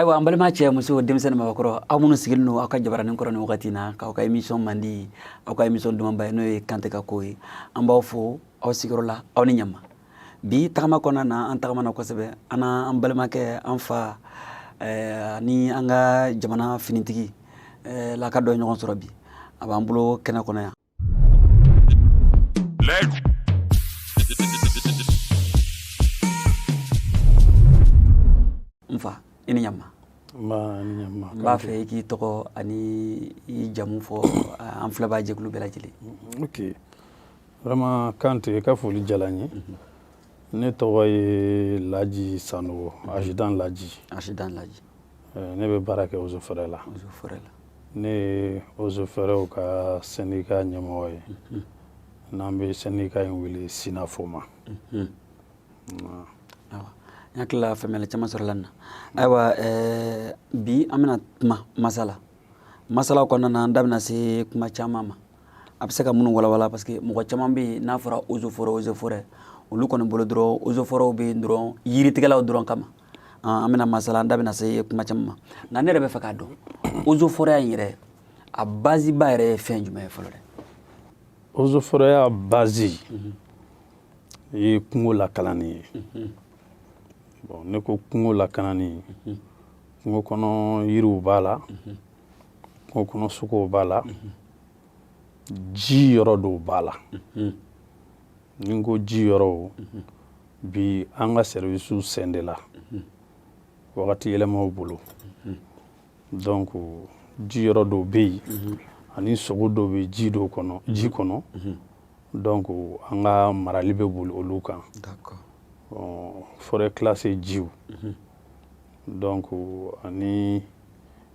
ayiwa an balima cɛ muso denmisɛnnin mabakɔrɔ aw minnu sigilen don aw ka jabaranin kɔrɔ nin wagati na k'aw ka emisɔn mandi aw ka emisɔn dumanba ye n'o ye kante ka ko ye an b'aw fo aw sigiyɔrɔ la aw ni ɲama bi tagama kɔnɔna na an tagamana kosɛbɛ an n'an balimakɛ an fa ani an ka jamana finitigi eh, laka dɔ ɲɔgɔn sɔrɔ bi a b'an bolo kɛnɛ kɔnɔ yan n fa i ni ɲama n b'a fɛ i k'i tɔgɔ ani i jamu fɔ an filɛbaa jɛkulu bɛɛ lajɛlen vraiment Kante i ka foli diyara n ye ne tɔgɔ ye Laji Sanogo ajidan Laji ajidan Laji eh, ne bɛ baara kɛ ozo fɛrɛ la ozo fɛrɛ la ne ye ozo fɛrɛw ka sɛndika ɲɛmɔgɔ ye mhm. n'an bɛ sɛndika in wele sinafo ma mhm. n hakilila faamuyali caman sɔrɔla nin na ayiwa eh, bi an bɛna kuma masala masala kɔnɔna na an da bɛna se kuma caman ma a bɛ se ka minnu walawala parce que mɔgɔ caman bɛ yen n'a fɔra ozo forɛ ozo forɛ olu kɔni bolo dɔrɔn ozo forɛw bɛ yen dɔrɔn yiritigɛlaw dɔrɔn kama an bɛna masala an da bɛna se kuma caman ma nka ne yɛrɛ bɛ fɛ k'a dɔn ozo forɛya in yɛrɛ a baziba yɛrɛ ye fɛn jumɛn ye fɔlɔ dɛ ozo forɛya bazi mhm. ye kungo lakanani ye mhm. bon n'i ko kungo lakanani mhm. kungo kɔnɔ yiriw b'a la o kɔnɔ sogow b'a la ji yɔrɔ dɔw b'a la n'i ko ji yɔrɔw bi an ka sɛriwisiw scindéla wagati yɛlɛmaw bolo donc ji yɔrɔ dɔw bɛ yen ani sogo dɔw bɛ ji dɔw kɔnɔ ji kɔnɔ donc an ka marali bɛ boli olu kan forêt classée jiw donc ani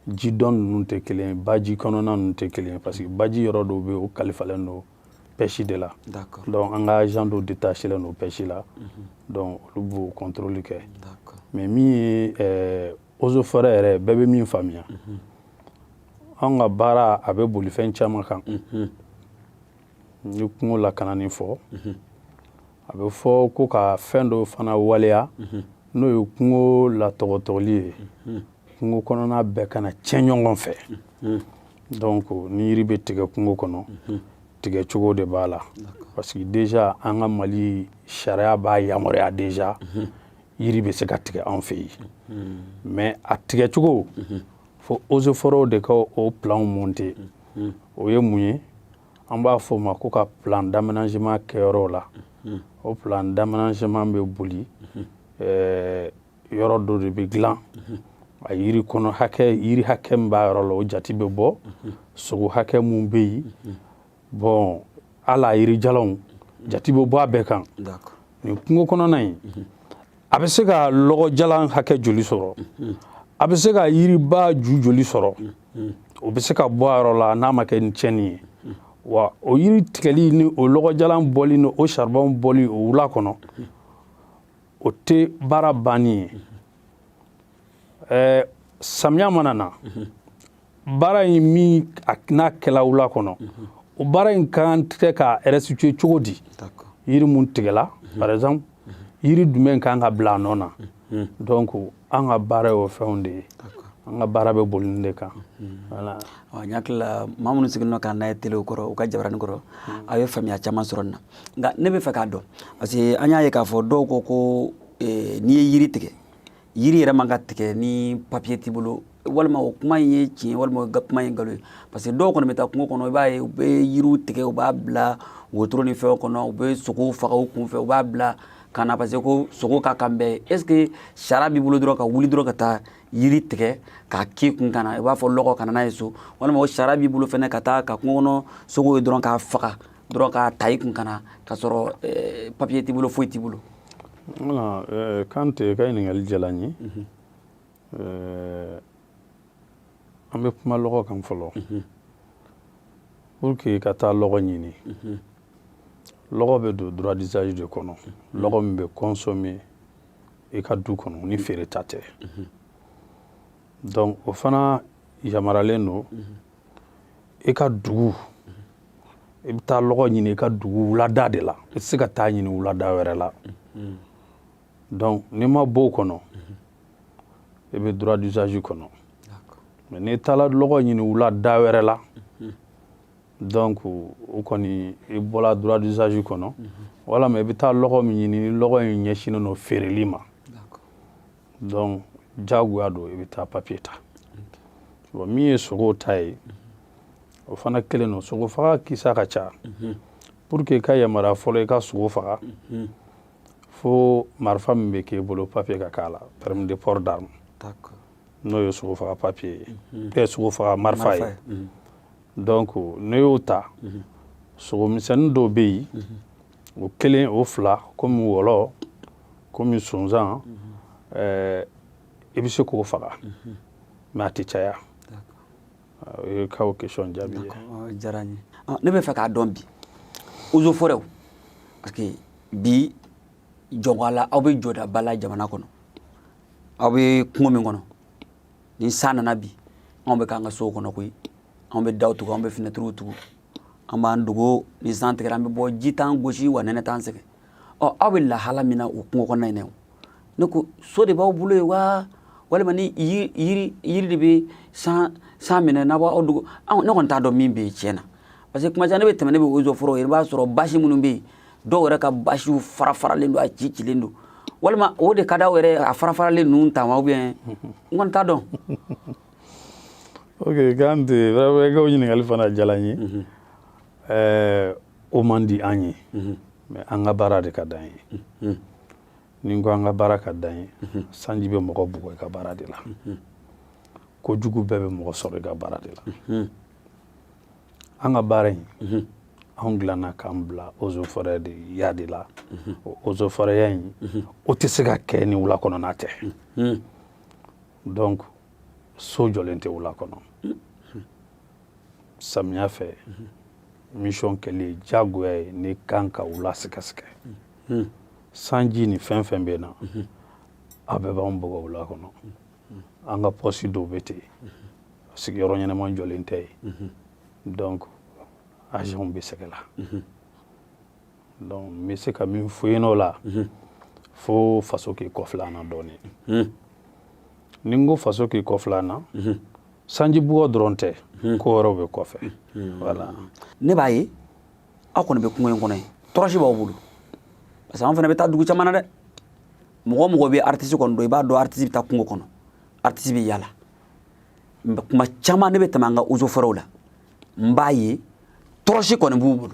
ji dɔ ninnu tɛ kelen baji kɔnɔna ninnu tɛ kelen parce que baji yɔrɔ dɔw bɛ o kalifalen don pɛsi de la donc an ka agent dɔw détachelen don pɛsi la donc olu b'o contrôle kɛ mais min ye eh, ozo forêt yɛrɛ bɛɛ bɛ min faamuya an ka baara a bɛ boli fɛn caman kan n ye kungo lakanani fɔ a bɛ fɔ ko ka fɛn dɔ fana waleya n'o ye kungo latɔgɔtɔli ye kungo kɔnɔna bɛɛ kana cɛn ɲɔgɔn fɛ donc ni yiri bɛ tigɛ kungo kɔnɔ tigɛ cogo de b'a la parce que déjà an ka mali sariya b'a yamaruya déjà yiri bɛ se ka tigɛ an fɛ yen mais a tigɛ cogo fo ozofɔrɔw de ka o planw monter o ye mun ye an b'a fɔ o ma ko ka plan d'aménagement kɛ yɔrɔw la mhm. o plan d'aménagement bɛ boli mhm. eh, yɔrɔ dɔ de bɛ dilan mhm. a yiri kɔnɔ hakɛ yiri hakɛ min b'a yɔrɔ la o jate bɛ bɔ sogo hakɛ mun bɛ yen bon a la yirijalanw jate bɛ bɔ a bɛɛ kan nin kungo kɔnɔna in a bɛ se ka lɔgɔjalan hakɛ joli sɔrɔ a bɛ se ka yiriba ju joli sɔrɔ hmm. o bɛ se ka bɔ a yɔrɔ la n'a ma kɛ ni tiɲɛni ye wa o yiri tigɛli ni o lɔgɔjalan bɔli ni o saribɔn bɔli o wula kɔnɔ o tɛ baara banni ye ɛɛ samiya mana na baara in min n'a kɛla wula kɔnɔ o baara in kan tɛ ka restituer cogo di yiri mun tigɛla par exemple yiri jumɛn kan ka bila a nɔ na donc an ka baara y'o fɛnw de ye an ka baara bɛ boli nin de kan voilà n hakili la maa minnu sigilen don k'an lajɛ telew kɔrɔ u ka jabarani kɔrɔ aw ye faamuya caman sɔrɔ nin na nka ne bɛ fɛ k'a dɔn parce que an y'a ye k'a fɔ dɔw ko ko n'i ye yiri tigɛ yiri yɛrɛ man ka tigɛ ni papiye t'i bolo walima o kuma in ye tiɲɛ walima o kuma ye nkalon ye parce que dɔw kɔni bɛ taa kungo kɔnɔ i b'a ye u bɛ yiriw tigɛ u b'a bila wotoro ni fɛnw kɔnɔ u bɛ sogow faga u kunfɛ u b'a bila ka na parce que ko sogo ka kan bɛɛ est ce que sariya b'i bolo dɔrɔn ka wuli dɔrɔn ka taa yiri tigɛ k'a k'i kun ka na i b'a fɔ lɔgɔ ka na n'a ye so walima o sariya b'i bolo fɛnɛ ka taa ka kungo kɔnɔ sogow ye dɔrɔn k'a faga dɔrɔn k'a ta i kun ka na k'a sɔrɔ papiye t'i bolo foyi t'i bolo Voilà eh, Kante ka ɲininkali diyala n ye mhm. eh, an bɛ kuma lɔgɔ kan fɔlɔ mhm. pour que i ka taa lɔgɔ ɲini mhm. lɔgɔ bɛ don droit d'usage de kɔnɔ lɔgɔ min bɛ consommer i ka du kɔnɔ ni feere ta tɛ donc o fana yamaralen don i ka dugu i bɛ taa lɔgɔ ɲini i ka dugu wulada de la i tɛ se ka taa ɲini wulada wɛrɛ la donc n'i ma bɔ o kɔnɔ i bɛ droit d'usage kɔnɔ mais n'i taala lɔgɔ ɲini wulada wɛrɛ la donc o kɔni i bɔla droit d'usage kɔnɔ walama i bɛ taa lɔgɔ min ɲini ni lɔgɔ in ɲɛsinnen don feereli ma donc jagoya don i bɛ taa papiye ta bon min ye sogo ta ye o fana kelen don sogo faga kisa ka ca pour que ka yamaruya fɔlɔ i ka sogo faga fo marifa min bɛ k'e bolo papiye ka k'a la permis de port d'arme n'o ye sogo faga papiye ye mhm. bɛɛ sogo faga marifa ye mhm. donc ne y'o ta mhm. sogo misɛnnin dɔw bɛ yen o kelen o fila komi wɔlɔ komi sonsan eh, i bɛ se k'o faga mais a tɛ caya o y'i ka o question jaabi ye o diyara n ye Ah, ne bɛ fɛ k'a dɔn bi eaux et forêts parce que bi jɔn ko Ala aw bɛ jɔdaba la jamana kɔnɔ aw bɛ kungo min kɔnɔ ni san nana bi anw bɛ k'an ka sow kɔnɔ koyi anw bɛ daw tugu anw bɛ finɛtiriw tugu an b'an dogo ni san tigɛra an bɛ bɔ ji t'an gosi wa nɛnɛ t'an sɛgɛn ɔ aw bɛ lahala min na o kungo kɔnɔna in na ne ko so de b'aw bolo yen wa walima ni yiri yiri de bɛ san san minɛ n'aw b'aw dogo ne kɔni t'a dɔn min bɛ yen tiɲɛ na parce que kuma caman ne bɛ tɛmɛ ne bɛ eaux et forêts i b'a sɔrɔ basi minnu bɛ yen dɔw yɛrɛ ka basiw fara faralen don a ci cilen don walima o de ka d'aw yɛrɛ a fara faralen ninnu ta wa ou bien n kɔni t'a dɔn. ok Kante vraiment i ka o ɲininkali fana diyala n ye ɛɛ o man di an ye mais an ka baara de ka d'an ye ni n ko an ka baara ka d'an ye sanji bɛ mɔgɔ bugɔ i ka baara de la ko jugu bɛɛ bɛ mɔgɔ sɔrɔ i ka baara de la an ka baara in anw dilanna k'an bila eaux et forêts de ya de la o eaux et forêtsya in o tɛ se ka kɛ ni wula kɔnɔna tɛ donc so jɔlen tɛ wula kɔnɔ samiya fɛ misiyɔn kɛli ye diyagoya ye ne kan ka wula sɛgɛsɛgɛ sanji ni fɛn fɛn bɛ na a bɛɛ b'an bugɔ wula kɔnɔ an ka pɔsi dɔw bɛ ten sigiyɔrɔ ɲɛnama jɔlen tɛ yen donc agents bɛ sɛgɛn la Donc n bɛ se ka min fɔ yen o la, fo faso k'i kɔfilɛ an na dɔɔni. Ni n ko faso k'i kɔfilɛ an na, sanji bugɔ dɔrɔn tɛ, ko wɛrɛw bɛ kɔfɛ. Voilà. Ne b'a ye aw kɔni bɛ kungo in kɔnɔ yen, tɔrɔsi b'aw bolo. Parce que an fana bɛ taa dugu caman na dɛ. Mɔgɔ o mɔgɔ bɛ artiste kɔni dɔn, i b'a dɔn artiste bɛ taa kungo kɔnɔ, artiste bɛ yaala. Mais tuma caman ne bɛ tɛmɛ an ka eaux et forêts la, n b'a ye tɔrɔsi kɔni b'u bolo.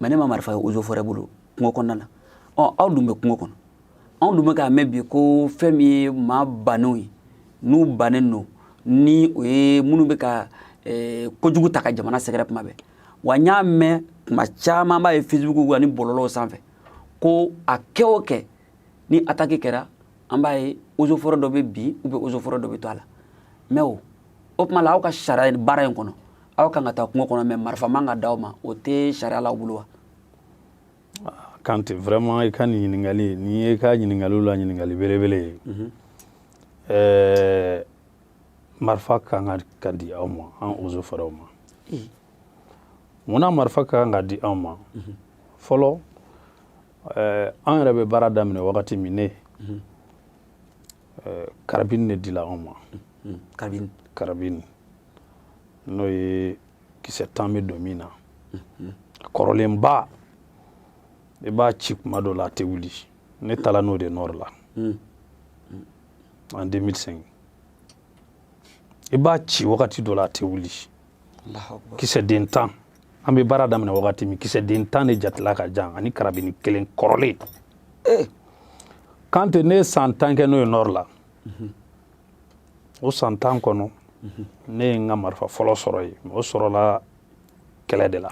mais ne ma marifa ye eaux et forêts bolo kungo kɔnɔna na ɔ aw dun bɛ kungo kɔnɔ anw dun bɛ k'a mɛn bi ko fɛn min ye maa bannenw ye n'u bannen don ni o ye minnu bɛ ka eh, kojugu ta ka jamana sɛgɛrɛ kuma bɛɛ wa n y'a mɛn kuma caman b'a ye facebook ani bɔlɔlɔw sanfɛ ko a kɛ o kɛ ni ataki kɛra an b'a ye eaux et forêts dɔ bɛ bin u bɛ eaux et forêts dɔ bɛ to a la mais o o tuma la aw ka sariya baara in kɔnɔ aw kan ka taa kungo kɔnɔ mais marifa man ka d'aw ma o tɛ sariya la aw bolo wa ah, Kante vraiment i ka nin ɲininkali in ye i ka ɲininkaliw la ɲininkali belebele ye mhm. eh, marifa ka kan ka di aw ma an eaux et forêtsw ma mun na marifa ka kan ka di anw ma mhm. fɔlɔ eh, an yɛrɛ bɛ baara daminɛ wagati min ne mhm. eh, karabini de dila anw ma hmm, karabini karabini n'o ye kisɛ tan bɛ don min na hmm, kɔrɔlenba i b'a ci kuma dɔ la a tɛ wuli ne taara n'o de Nord la en 2005 i b'a ci wagati dɔ la a tɛ wuli kisɛ den tan an bɛ baara daminɛ wagati min kisɛ den tan de jatela ka di an ani karabini kelen kɔrɔlen eh. Kante ne ye san tan kɛ n'o ye Nord la mhm. o san tan kɔnɔ mhm. ne ye n ka marifa fɔlɔ sɔrɔ yen o sɔrɔla kɛlɛ de la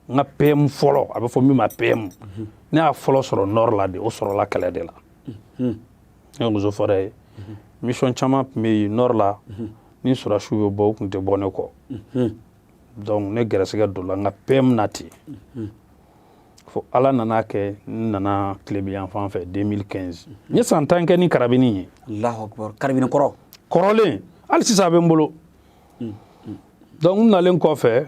n ka PM fɔlɔ a bɛ fɔ min ma PM mhm. ne y'a fɔlɔ sɔrɔ Nord la de o sɔrɔla kɛlɛ de la mhm. n ye eaux et forêts ye mhm. mission caman tun bɛ yen Nord la ni sɔrɔdasiw bɛ bɔ u tun tɛ bɔ ne kɔ donc ne gɛrɛsɛgɛ donna n ka PM na ten fo ala nan'a kɛ n nana tilebinyanfan fɛ 2015 n ye san tan kɛ ni karabini ye karabini kɔrɔ kɔrɔlen hali sisan a bɛ n bolo donc n nalen kɔfɛ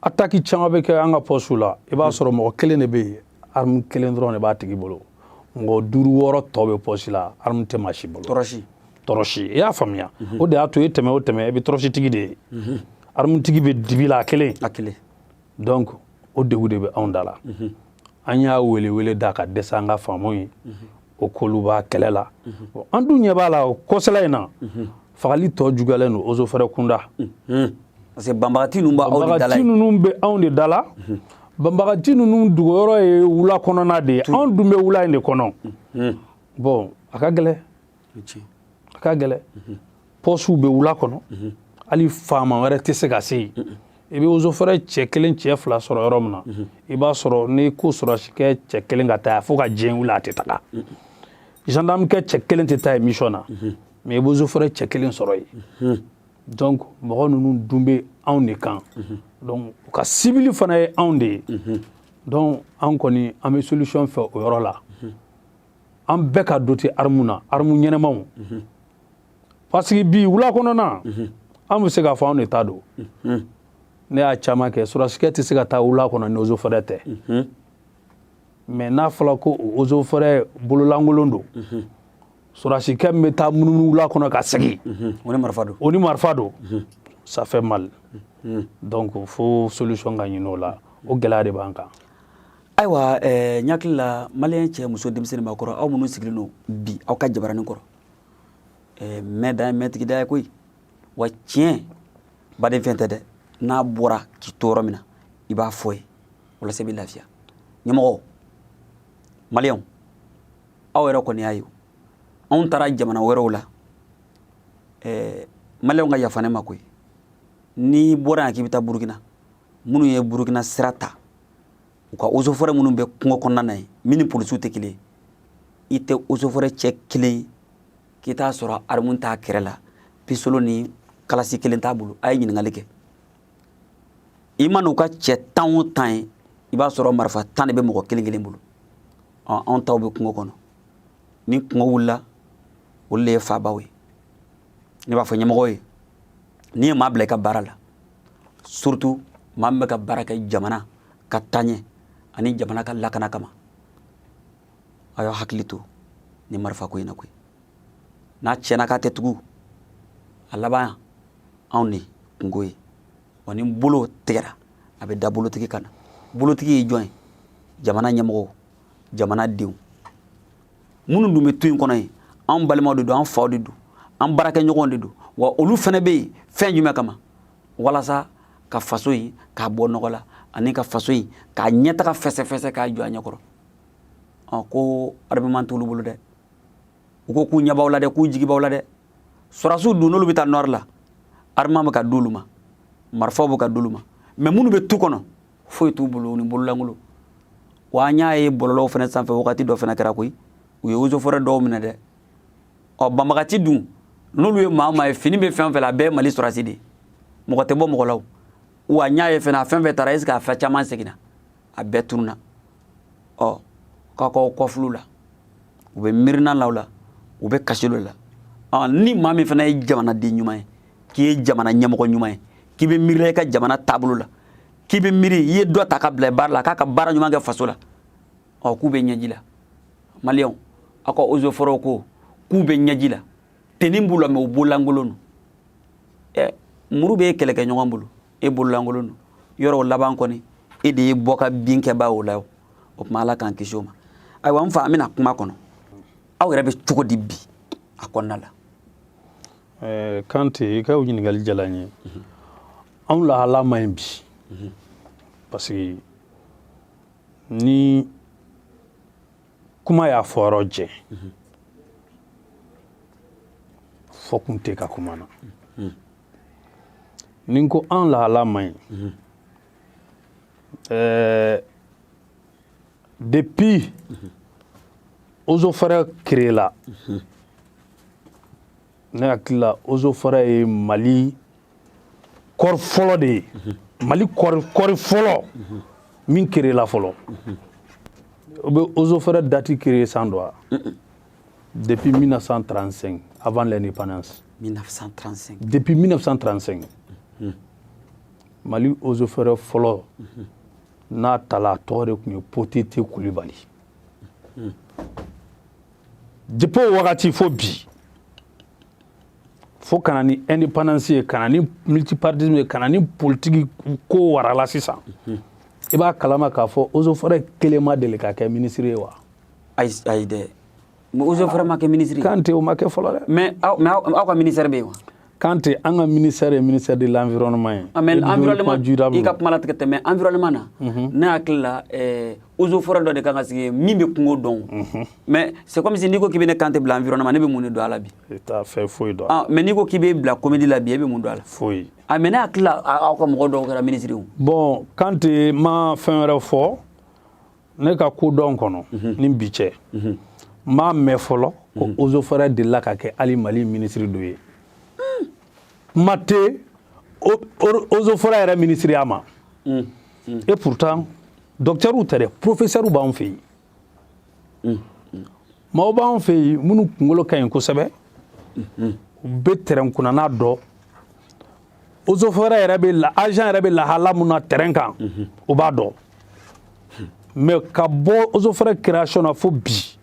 ataki caman bɛ kɛ an ka pɔsiw la i b'a sɔrɔ mɔgɔ kelen de bɛ yen armu kelen dɔrɔn de b'a tigi bolo mɔgɔ duuru wɔɔrɔ tɔ bɛ pɔsi la armu tɛ maa si bolo tɔrɔsi tɔrɔsi i y'a faamuya mhm. o de y'a to i tɛmɛ o tɛmɛ i bɛ tɔrɔsitigi de ye mhm. armutigi bɛ dibi la a kelen a kelen donc o degun de bɛ anw da la mhm. an y'a wele wele da ka dɛsɛ an ka faamaw ye u k'olu b'a kɛlɛ la an dun ɲɛ b'a la o kɔsala in na fagali tɔ juguyalen don eaux et forêts kunda parce que banbagati ninnu b'aw de dala ye ninnu bɛ anw de dala banbagati ninnu dogoyɔrɔ ye wula kɔnɔna de ye anw dun bɛ wula in de kɔnɔ bon a ka gɛlɛ a ka gɛlɛ pɔsiw bɛ wula kɔnɔ hali faama wɛrɛ tɛ se ka se yen i bɛ eaux et forêts cɛ kelen cɛ fila sɔrɔ yɔrɔ min na i b'a sɔrɔ n'i ko sɔrɔdasikɛ cɛ kelen ka taa fo ka diɲɛ wuli a tɛ taga gendarme kɛ cɛ kelen tɛ taa yen mission na mɛ i bɛ ozo fɔrɛ cɛ kelen sɔrɔ yen mhm. donc mɔgɔ ninnu dun bɛ anw de kan mhm. donc u ka sibili fana ye anw de ye mhm. donc an kɔni an bɛ solution fɛ o yɔrɔ la an bɛɛ ka dote armu na armu ɲɛnamaw parce que bi wula kɔnɔna an bɛ se k'a fɔ anw de ta don ne y'a caman kɛ sɔrasikɛ tɛ se ka taa wula kɔnɔ ni ozo fɔrɛ tɛ mɛ n'a fɔra ko ozo fɔrɛ bololankolon don sɔrɔdasikɛ min bɛ taa munumunu wula kɔnɔ ka segin o ni marifa don o ni marifa don ça fait mal donc fo solution ka ɲini o la o gɛlɛya de b'an kan ayiwa eh, n hakili la maliyɛn cɛ muso denmisɛn ni maakɔrɔ aw minnu sigilen don bi aw ka jabaranin kɔrɔ eh, mɛ da ye mɛtigi da ye koyi wa tiɲɛ baden fɛn tɛ dɛ n'a bɔra k'i to yɔrɔ min na i b'a fɔ yen walasa i bɛ lafiya ɲɛmɔgɔ maliyɛnw aw yɛrɛ kɔni y'a ye anw taara jamana wɛrɛw la ɛɛ maliyɛnw ka yafa ne ma koyi n'i bɔra yan k'i bɛ taa burukina minnu ye burukina sira ta u ka osofɔrɛ minnu bɛ kungo kɔnɔna na yen min ni polisiw tɛ kelen ye i tɛ osofɔrɛ cɛ kelen k'i t'a sɔrɔ arimu t'a kɛrɛ la pisolo ni kalasi kelen t'a bolo a ye ɲininkali kɛ i mana u ka cɛ tan o tan ye i b'a sɔrɔ marifa tan de bɛ mɔgɔ kelen kelen bolo anw taw bɛ kungo kɔnɔ ni kungo wulila olu de ye fabaw ye ne b'a fɔ ɲɛmɔgɔw ye n'i ye maa bila i ka baara la surtout maa min bɛ ka baara kɛ jamana ka taɲɛ ani jamana ka lakana kama a y'aw hakili to ni marifa ko in na koyi n'a tiɲɛna k'a tɛ tugu a laban anw de kunko ye wa ni bolo tigɛra a bɛ da bolotigi kan na bolotigi ye jɔn ye jamana ɲɛmɔgɔw jamana denw minnu dun bɛ tu in kɔnɔ yen anw balimaw de don an faw de don an baarakɛɲɔgɔn de don wa olu fana bɛ yen fɛn jumɛn kama walasa ka faso in k'a bɔ nɔgɔ la ani ka faso in ka ɲɛtaga fɛsɛfɛsɛ k'a jɔ a ɲɛkɔrɔ ko armement t'olu bolo dɛ u ko k'u ɲɛ b'aw la dɛ k'u jigi b'aw la dɛ sɔrasiw dun n'olu bɛ taa nord la arimu bɛ ka d'olu ma marifaw bɛ ka d'olu ma mɛ minnu bɛ tu kɔnɔ foyi t'u bolo ni bololankolon wa an y'a ye bɔlɔlɔw fana sanfɛ wagati dɔ fana kɛra koyi u ye osofɔrɛ dɔw minɛ dɛ ɔ banbaganci dun n'olu ye maa maa ye fini bɛ fɛn fɛn la a bɛɛ mali sɔrasi de mɔgɔ tɛ bɔ mɔgɔ la wa n y'a ye fana a fɛn fɛn taara est ce que a fɛn caman seginna a bɛɛ tununa ɔ k'a k'aw kɔfulu la u bɛ miirina la la u bɛ kasi dɔ la ɔ ni maa min fana ye jamanaden ɲuman ye k'i ye jamana ɲɛmɔgɔ ɲuman ye k'i bɛ miirila i ka jamana taabolo la k'i bɛ miiri i ye dɔ ta ka bila baara la k'a ka baara ɲuman kɛ faso la ɔ k'u bɛ ɲɛji la maliyɛnw aw ka eaux et forêts ko k'u bɛ ɲɛji la tenue b'u la mais u bololankolon don ɛ muru bɛ e kɛlɛkɛɲɔgɔn bolo e bololankolon don yɔrɔ o laban kɔni e de ye bɔ ka bin kɛbaa o la o o tuma ala k'an kisi o ma ayiwa n fa an bɛna kuma kɔnɔ aw yɛrɛ bɛ cogo di bi a kɔnɔna la eh, kante i ka ɲininkali diyala n ye anw lahala man ɲi bi parce que ni kuma y'a fɔyɔrɔ jɛ fɔkun tɛ kɛ kuma na ni n ko an lahala man ɲi mhm. eh, depuis mhm. eaux et forêts créela mhm. ne hakili la eaux et forêts ye mali corps fɔlɔ de ye mali corps corps fɔlɔ min créela fɔlɔ aw bɛ eaux et forêts dati créer san dɔn wa Depuis 1935, avant l'indépendance. 1935. Depuis 1935. Mhm. Mali eaux et forêts fɔlɔ mhm. n'a tala a tɔgɔ de tun ye potete kulibali mhm. depuis o wagati fo bi fo ka na ni indépendance ye ka na ni multipartisme ye ka na ni politiki ko warala sisan i b'a kalama k'a fɔ eaux et forêts kelen ma deli ka kɛ minisiri ye wa ayi ayi dɛ eaux et forêts ma kɛ minisiri kante o ma kɛ fɔlɔ dɛ mais aw ka minisɛri bɛ yen wa kante an ka minisɛri ye minisɛri de l'environnement ye ah, mais environnement i ka kuma latigɛ tɛ mais environnement na mhm. ne hakili la eh, eaux et forêts dɔ de kan ka sigi min bɛ kungo dɔn mhm. mais c'est comme si n'i ko k'i bɛ ne kante bila environnement ne bɛ mun de dɔn a la bi i t'a fɛ foyi dɔn ah, mais n'i ko k'i bɛ bila comédie la bi e bɛ mun dɔn a la foyi a ah, mais ne hakili la aw ka mɔgɔ dɔw kɛra minisiri ye bon kante n ma fɛn wɛrɛ fɔ ne ka kodɔn kɔnɔ mhm. ni bi cɛ mhm. n m'a mɛn fɔlɔ ko mhm. eaux et forêts delila ka kɛ hali mali minisiri dɔ ye kuma tɛ eaux et forêts yɛrɛ minisiriya ma mm, mm. et pourtant dɔkitɛriw tɛ dɛ porofesɛriw b'anw fɛ yen mm, maaw b'anw fɛ yen minnu kunkolo ka ɲi kosɛbɛ u bɛ terrain kɔnɔna dɔn eaux et forêts yɛrɛ bɛ la agent yɛrɛ bɛ lahala min na terrain kan u b'a dɔn mais ka bɔ eaux et forêts création na fo bi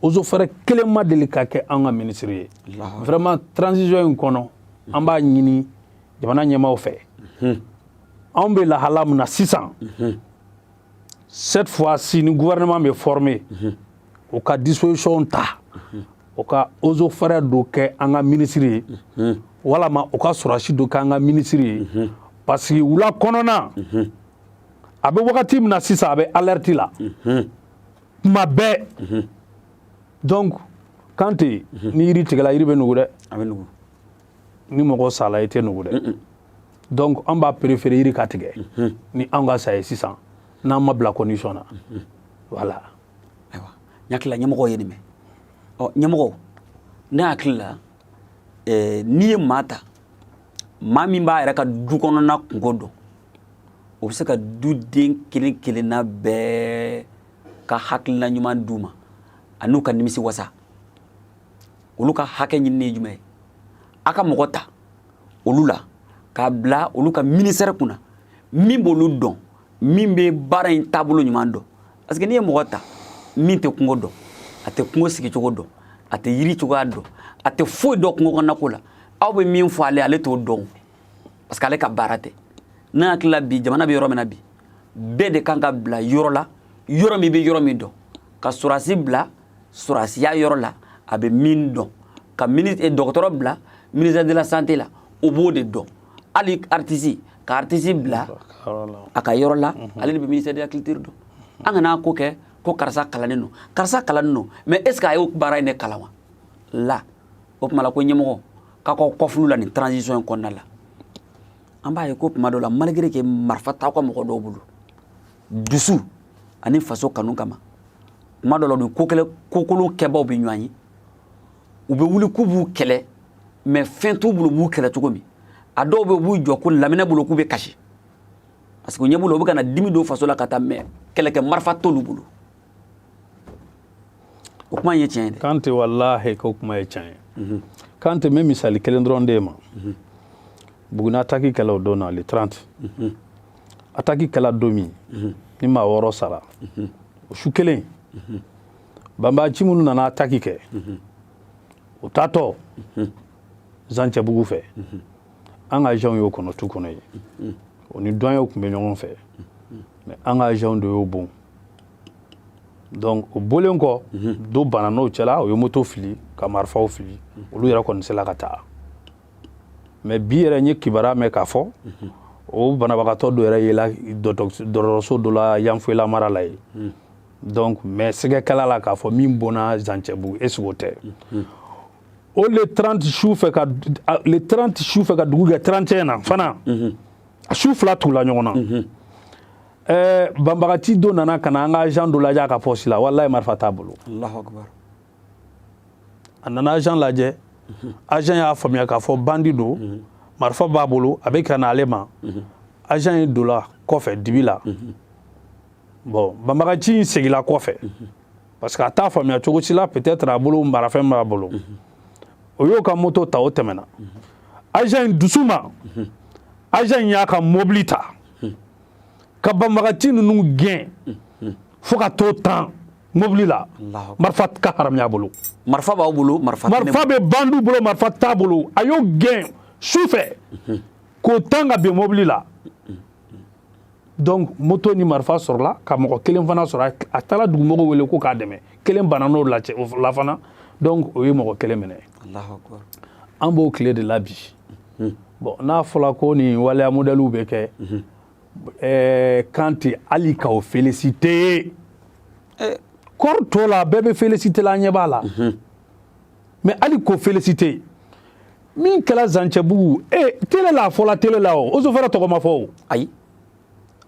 eaux et forêts kelen ma deli ka kɛ an ka ministre ye vraiment transition in kɔnɔ an b'a ɲini jamana ɲɛmaaw fɛ anw bɛ lahala min na sisan cette fois ci ni gouvernement bɛ former o ka disposition ta o ka eaux et forêts dɔ kɛ an ka minisiri ye walama o ka sɔrɔsi dɔ kɛ an ka minisiri ye parce que wula kɔnɔna a bɛ wagati min na sisan a bɛ alerte la tuma bɛɛ donc kante ni yiri tigɛla yiri bɛ nugu dɛ a bɛ nugu ni mɔgɔ sala i tɛ nugu dɛ donc an b'a préféré yiri ka tigɛ mhm. ni an ka sa ye sisan n'an ma bila condition na mhm. voilà ayiwa n hakili la ɲɛmɔgɔ ye nin mɛn ɔ ɲɛmɔgɔ ne hakili la eh, n'i ye maa ta maa min b'a yɛrɛ ka du kɔnɔna kunko dɔn o bɛ se ka duden kelen kelenna bɛɛ ka hakilina ɲuman d'u ma an'u ka nimisi wasa olu ka hakɛ ɲinini ye jumɛn ye a ka mɔgɔ ta olu la k'a bila olu ka ministère kunna min b'olu dɔn min bɛ baara in taabolo ɲuman dɔn parce que n'i ye mɔgɔ ta min tɛ kungo dɔn a tɛ kungo sigicogo dɔn a tɛ yiri cogoya dɔn a tɛ foyi dɔn kungo kɔnɔnako la aw bɛ min fɔ ale ale t'o dɔn parce que ale ka baara tɛ n hakili la bi jamana bɛ yɔrɔ min na bi bɛɛ de kan ka bila yɔrɔ la yɔrɔ min bɛ yɔrɔ min dɔn ka sɔrɔdasi bila sɔrɔsiya yɔrɔ la a bɛ min dɔn ka eh, dɔgɔtɔrɔ bila ministère de la santé la o b'o de dɔn hali artisi ka artisi bila a ka yɔrɔ la mhm. ale de bɛ ministère de la culture dɔn an kana ko kɛ ko karisa kalannen don karisa kalannen don mais est ce que a y'o baara in de kalan wa la o tuma la ko ɲɛmɔgɔ k'a k'aw kɔfulu la nin transition in kɔnɔna la an b'a ye ko tuma dɔ la malgré que marifa t'aw ka mɔgɔ dɔw bolo dusu ani faso kanu kama tuma dɔ la nin ko kɛlɛ kokolon kɛbaaw bɛ ɲɔgɔn ye u bɛ wuli k'u b'u kɛlɛ mais fɛn t'u bolo u b'u kɛlɛ cogo min a dɔw bɛ b'u jɔ ko laminɛ bolo k'u bɛ kasi parce que ɲɛ b'u la u bɛ ka na dimi don faso la ka taa mais kɛlɛkɛ marifa t'olu bolo o kuma ye tiɲɛ ye dɛ kante walahi o kuma ye tiɲɛ ye kante n bɛ misali kelen dɔrɔn d'i ma buguni ataki kɛla don na le 30 ataki kɛla don min mhm. ni maa wɔɔrɔ sara mhm. o su kelen mhm. banbaanci minnu nana ataki kɛ u taatɔ zancɛbugu fɛ an ka agentw y'o kɔnɔ tu kɔnɔ yen o ni douanierw tun bɛ ɲɔgɔn fɛ mais an ka agentw de y'o bon donc o bɔlen kɔ dɔ banna n'o cɛla o ye moto fili ka marifaw fili olu yɛrɛ kɔni sela ka taa mais bi yɛrɛ n ye kibaruya mɛn k'a fɔ o banabagatɔ dɔ yɛrɛ yela dɔgɔtɔrɔso dɔ la yanfoyila mara la yen donc mais sigɛ kɛla a la k'a fɔ min bonna zancɛbugu est ce que o tɛ o le 30 su fɛ ka le 30 su fɛ ka dugu gɛ 31 na fana a su fila tugula ɲɔgɔn na ɛɛ banbagati dɔ nana ka na an ka agent dɔ lajɛ a ka poste la walayi marifa t'a bolo a nana agent lajɛ agent y'a faamuya k'a fɔ bandi don marifa b'a bolo a bɛ ka na ale ma agent ye dola kɔfɛ dibi la bon banbagaci in segila kɔfɛ parce que a t'a faamuya cogo si la peut-être a bolo marafɛn b'a bolo o y'o ka moto ta o tɛmɛna agent in dusuma agent in y'a ka mobili ta ka banbagaci ninnu gɛn fo ka t'o tan mobili la marifa ka haramuya bolo marifa b'o bolo marifa bɛ bandiw bolo marifa t'a bolo a y'o gɛn su fɛ mhm. k'o tan ka bin mobili la donc moto ni marifa sɔrɔla ka mɔgɔ kelen fana sɔrɔ a taara dugumɔgɔw wele k'o k'a dɛmɛ kelen banana o cɛ la fana donc o ye mɔgɔ kelen minɛ an b'o tile de la bi mhm. bon n'a fɔla ko nin waleya modɛliw bɛ kɛ mhm. ɛɛ kan tɛ hali k'o felisite eh. kɔri tɔ la bɛɛ bɛ felisite la an ɲɛ b'a la mhm. mais hali k'o felisite min kɛra zancɛbugu e eh, tele la a fɔla tele la o eaux et forêts tɔgɔ ma fɔ o ayi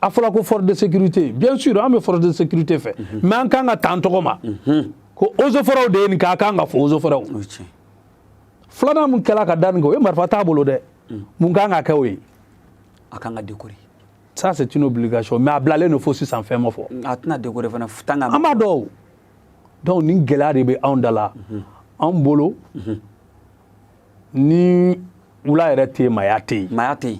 a fɔla ko force de sécurité bien sûr an bɛ force de sécurité fɛ mais mhm. an kan ka t'an tɔgɔ ma mhm. ko eaux et forêts de ye nin kɛ a kan ka fɔ eaux et forêts filanan min kɛra ka da nin kɛ o ye marifa t'a bolo dɛ mm. mun kan ka kɛ o ye a kan ka dekore ça c'est une obligation mais a bilalen don fo sisan fɛn ma fɔ mm, a tɛna dekore fana tan ka an b'a dɔn donc nin gɛlɛya de bɛ anw da la mhm. anw bolo mhm. ni wula yɛrɛ tɛ yen maaya tɛ yen maaya tɛ yen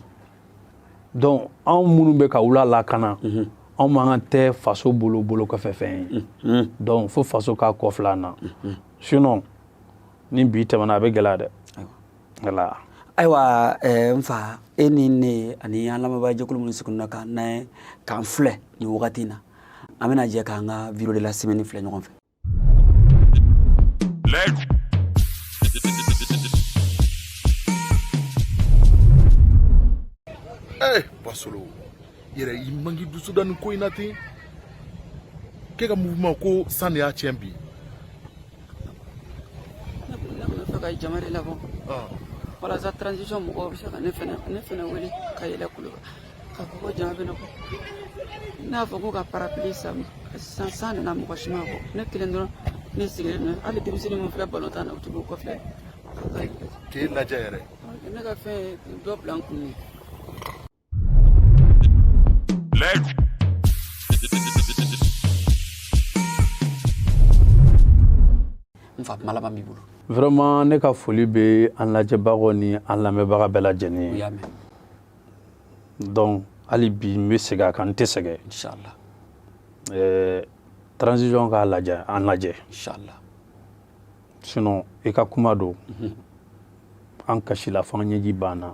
donc anw minnu bɛ ka wula lakana mhm. anw man kan tɛ faso bolo bolokɔfɛfɛn ye donc fo faso k'a kɔfilɛ an na sinon ni bi tɛmɛna a bɛ gɛlɛya dɛ ayiwa n fa e ni ne ani an lamɛnbaajɛkulu minnu sigilen don k'an lamɛn k'an filɛ nin wagati in na an bɛna jɛ k'an ka vidéo de la semaine filɛ ɲɔgɔn fɛ Hey, Basolo, yɛrɛ i mangi dusu da nin ko in na ten k'e ka mouvement ko san de y'a tiɲɛ bi ne bolila ka nɔfɛ ka jama de labɔ walasa transition mɔgɔw bɛ se ka ne fɛnɛ ne fɛnɛ wele ka yɛlɛ kulo k'a fɔ ko jama bɛ ne kɔ n'a fɔ ko ka parapili san san san nana mɔgɔ si ma fo ne kelen dɔrɔn ne sigilen don hali denmisɛnnin min filɛ balontan na u tɛ bɔ kɔfɛ k'i lajɛ yɛrɛ ne ka fɛn dɔ bila n kun ye n fa malama b'i bolo vraiment ne ka foli bɛ an lajɛbagaw ni an lamɛnbaga bɛɛ lajɛlen ye donc hali bi n bɛ segin a kan n tɛ sɛgɛn inchallah ɛɛ transition k'a lajɛ an lajɛ inchallah sinon i ka kuma don an kasila fo an ɲɛji banna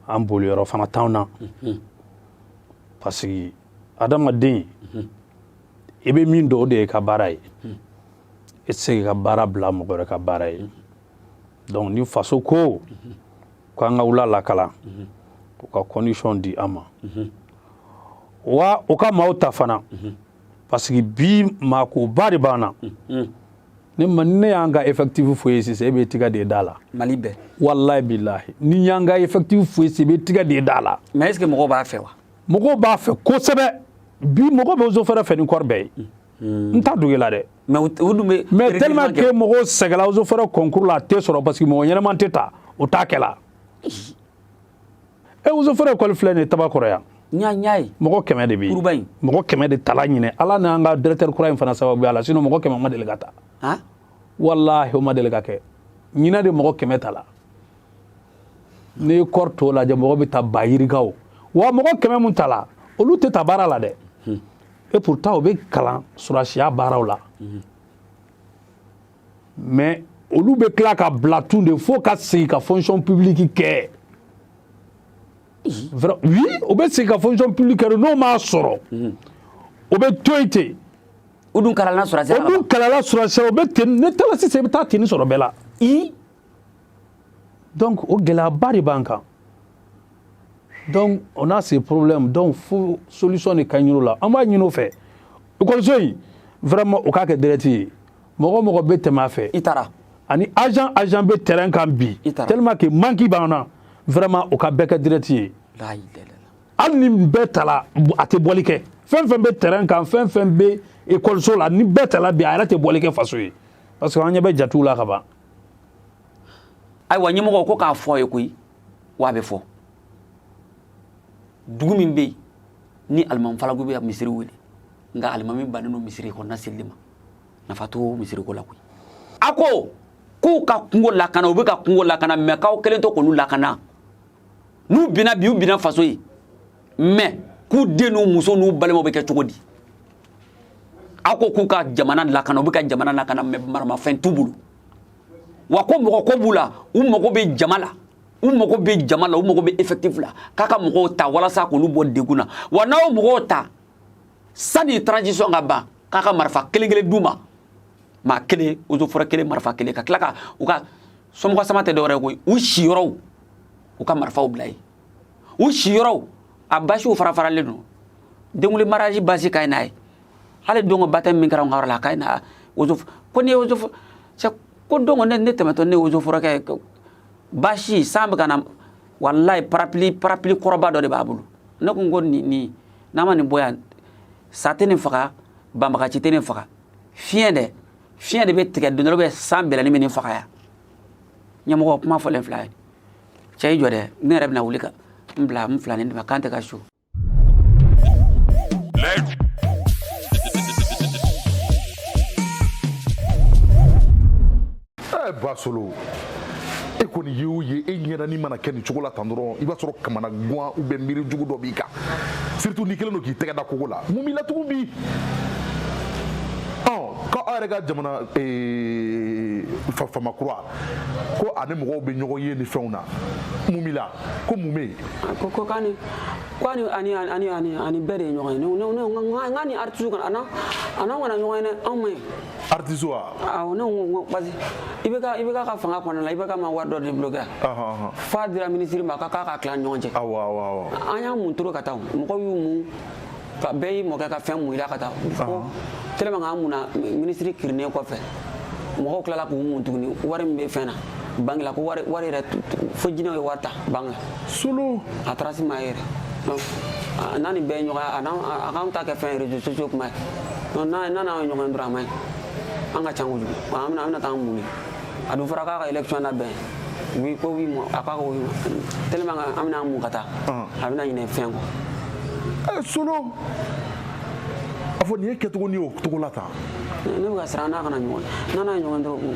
an boli yɔrɔ fana t'anw na parce que adamaden i bɛ min dɔn o de y'i ka baara ye i tɛ se k'i ka baara bila mɔgɔ wɛrɛ ka baara ye donc ni faso ko ko an ka wula lakana u ka condition di an ma wa u ka maaw ta fana parce que bi maakoba de b'an na ne ma ne y'an ka effectif fɔ i ye sisan e b'i tɛgɛ da i da la mali bɛɛ walayi bilahi ni n y'an ka effectif fɔ i ye sisan e b'i tɛgɛ da i da la mais est ce que mɔgɔw b'a fɛ wa mɔgɔw b'a fɛ kosɛbɛ bi mɔgɔ bɛ eaux et forêts fɛ ni corps bɛɛ ye n t'a dogo i la dɛ mais u dun bɛ mais tellement que mɔgɔw sɛgɛla eaux et forêts concours la a tɛ sɔrɔ parce que mɔgɔ ɲɛnama tɛ ta o t'a kɛla e eaux et forêts ekɔli filɛ nin ye tabakɔrɔ yan ɲaɲa ye mɔgɔ kɛmɛ de bɛ kuruba in mɔgɔ kɛmɛ de tala ɲinɛ ala n'an ka directeur kura in fana sababuya la sinon mɔgɔ kɛmɛ ma deli ka ta han walahi o ma deli ka kɛ ɲinɛ de mɔgɔ kɛmɛ tala n'i ye corps tɔw lajɛ mɔgɔ bɛ ta ba yirikaw wa mɔgɔ kɛmɛ min tala olu tɛ taa baara la dɛ hmm. et pourtant u bɛ kalan sɔrɔdasiya baaraw la hmm. mais olu bɛ tila ka bila ten de fo o ka segin ka fonction publique kɛ oui o bɛ segin ka fonction publique kɛ n'o m'a sɔrɔ o bɛ to yen ten o dun kalala sɔrɔdasiya la o dun kalala sɔrɔdasiya la o bɛ ten n'i taara sisan i bɛ taa ten sɔrɔ bɛɛ la i donc o gɛlɛyaba de b'an kan donc on a ces problèmes donc fo solution de ka ɲini o la an b'a ɲini o fɛ ekɔliso in vraiment o k'a kɛ direct ye mɔgɔ o mɔgɔ bɛ tɛmɛ a fɛ i taara ani agent agent bɛ terrain kan bi tellement que manque b'an na vraiment o ka bɛɛ kɛ direct ye hali ni bɛɛ tala a tɛ bɔli kɛ fɛn fɛn bɛ terrain kan fɛn fɛn bɛ ekɔliso la ni bɛɛ tala bi a yɛrɛ tɛ bɔli kɛ faso ye parce que an ɲɛ bɛ jatiw la ka ban ayiwa ɲɛmɔgɔ ko k'a fɔ a ye koyi wa a bɛ fɔ dugu min bɛ yen ni alimami falagu bɛ misiri wele nka alimami bannen don misiri kɔnɔna selili ma nafa t'o misiri ko la koyi a ko k'u ka kungo lakana u bɛ ka kungo lakana mais k'aw kɛlen to k'olu lakana n'u binna bi u binna faso ye mais k'u den n'u muso n'u balimaw bɛ kɛ cogo di a ko k'u ka jamana lakana u bɛ ka jamana lakana mais maramafɛn t'u bolo wa ko mɔgɔ ko b'u la u mago bɛ jama la u mago bɛ jama la u mago bɛ effectif la k'a ka mɔgɔw ta walasa k'olu bɔ degun na wa n'aw mɔgɔw ta sani transition ka ban k'a ka marifa kelen kelen d'u ma maa kelen eaux et forêts kelen marifa kelen ka tila ka u ka somɔgɔ sama tɛ dɔwɛrɛ koyi u siyɔrɔw u ka marifaw bila ye u siyɔrɔw a basiw fara faralen don denkunli mariage basi ka ɲi n'a ye hali don ko baptême min kɛra n ka yɔrɔ la a ka ɲi na ozo ko ni ye ozo ko don ko ne ne tɛmɛtɔ ne ye eaux et forêts ka basi san bɛ ka na walayi parapili parapili kɔrɔba dɔ de b'a bolo ne ko n ko nin nin n'a ma nin bɔ yan sa tɛ nin faga banbaganci tɛ nin faga fiɲɛ de fiɲɛ de bɛ tigɛ don dɔ bɛ sanbɛlɛnin bɛ nin faga yan ɲɛmɔgɔ kuma fɔlen filɛ cɛ i jɔ dɛ ne yɛrɛ bɛna wuli ka n bila n filanin djimé kanté ka so basolo e kɔni ye o ye e ɲɛda nin mana kɛ nin cogo la tan dɔrɔn i b'a sɔrɔ kamanagwan ou bien miiri jugu dɔ b'i kan surtout n'i kɛlen don k'i tɛgɛ da kogo la mun b'i la tugun bi ko aw yɛrɛ ka jamana faama kura ko a ni mɔgɔw bɛ ɲɔgɔn ye ni fɛnw na mun b'i la ko mun bɛ yen ko ani ani ani ani ani bɛɛ de ye ɲɔgɔn ye ne ne ne nka a ni artiste kana ana ana kana ɲɔgɔn ye dɛ anw ma ye artiste wa awɔ ne ko ko parce que IBK IBK ka fanga kɔnɔna la IBK ma wari dɔ débloquer f'a dira ministre ma k'a k'a ka tila ɲɔgɔn cɛ awɔ awɔ an y'an mun trop ka taa mɔgɔw y'u mun ka bɛɛ y'i mɔkɛ ka fɛn mun i la ka taa ko tellement k'an munna minisiri kirinnen kɔfɛ mɔgɔw tilala k'u mun tuguni wari min bɛ fɛn na banque la ko wari wari yɛrɛ fo jinɛw ye wari ta banque la solo a taara si m'a ye yɛrɛ donc a n'a ni bɛɛ ye ɲɔgɔn a n'an a k'an ta kɛ fɛn réseaux sociaux kuma ye donc n'a n'a n'an ye ɲɔgɔn ye dɔrɔn a man ɲi an ka can kojugu an bɛna an bɛna taa an mun ye a dun fɔra k'a ka élection labɛn oui ko oui a k'a ko tellement an bɛna mun ka taa a bɛna ɲinɛ fɛn kɔ eh, solo a fɔ nin ye kɛcogo ni y'o cogo la tan ne bɛ ka siran n'a kana ɲɔgɔn n'a n'a ɲɔgɔn dɔrɔn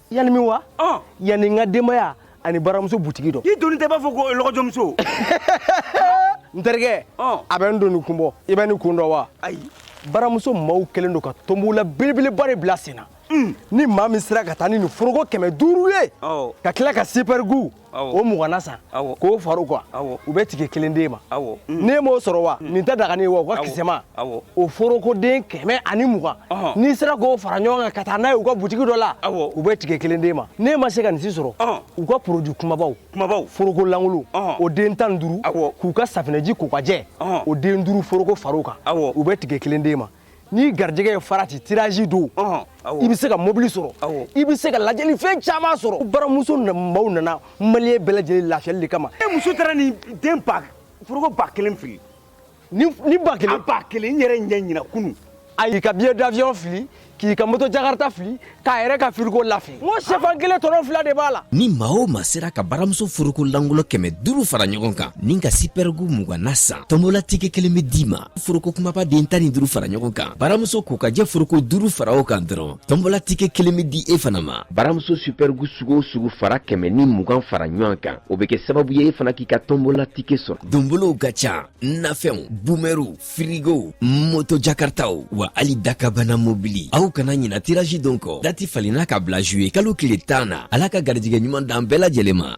yan ni min wa yan ni n ka denbaya ani baramuso butigi dɔ i doni tɛ b'a fɔ ko lɔgɔjɔmuso n terikɛ a bɛ nin doni kun bɔ i bɛ nin kun dɔn wa ayi baramuso maaw kɛlen don ka tɔnbɔla belebeleba de bila sen na ni maa min sera ka taa ni nin foroko kɛmɛ duuru ye ka tila ka sipɛrigu o mugan na san k'o fara a kan u bɛ tike kelen d'e ma ne m'o sɔrɔ wa hmm. nin tɛ daga ne ye wa u ka kisɛma o forokoden kɛmɛ ani mugan n'i sera k'o fara ɲɔgɔn kan ka taa n'a ye u ka butigi dɔ la u bɛ tike kelen d'e ma ne ma se ka nin si sɔrɔ u ka poroju kumabaw kumabaw foroko lankolon o den tan ni duuru k'u ka safinɛji ko ka jɛ o den duuru foroko fara a kan u bɛ tike kelen d'e ma ni garijɛgɛ ye farati tirazi don i bɛ se ka mobili sɔrɔ i bɛ se ka lajɛli fɛn caman sɔrɔ baramuso maaw nana mali bɛɛ lajɛlen lafiyali de kama e muso taara ni den ba foroko ba kelen fili ni ba kelen ba kelen n yɛrɛ ɲɛ na kunun a y'i ka biye davyɔn fili k'i ka moto jakarta fili k'a yɛrɛ ka firigo lafili n ko sɛfan kelen tɔnɔ fila de b'a la ni maa o maa sera ka baramuso foroko lankolon kɛmɛ duuru fara ɲɔgɔn kan ni ka sipɛrigu mugan na san tɔnbɔla tike kelen be d'i ma foroko kumaba den tan ni duuru fara ɲɔgɔn kan baramuso ko ka jɛ foroko duuru fara o kan dɔrɔn tɔnbɔla tike kelen be di e fana ma baramuso supɛrigu sugu o sugu fara kɛmɛ ni mugan fara ɲɔgɔn kan o be kɛ sababu ye e fana k'i ka tɔnbɔla tike sɔrɔ donbolow ka ca nafɛnw bumɛriw firigow moto jakartaw wa hali dakabana mobili aw kana ɲina tiraji don kɔ dati falenna ka bila juye kalo tile tan na ala ka garijɛgɛ ɲuman d'an bɛɛ lajɛlen ma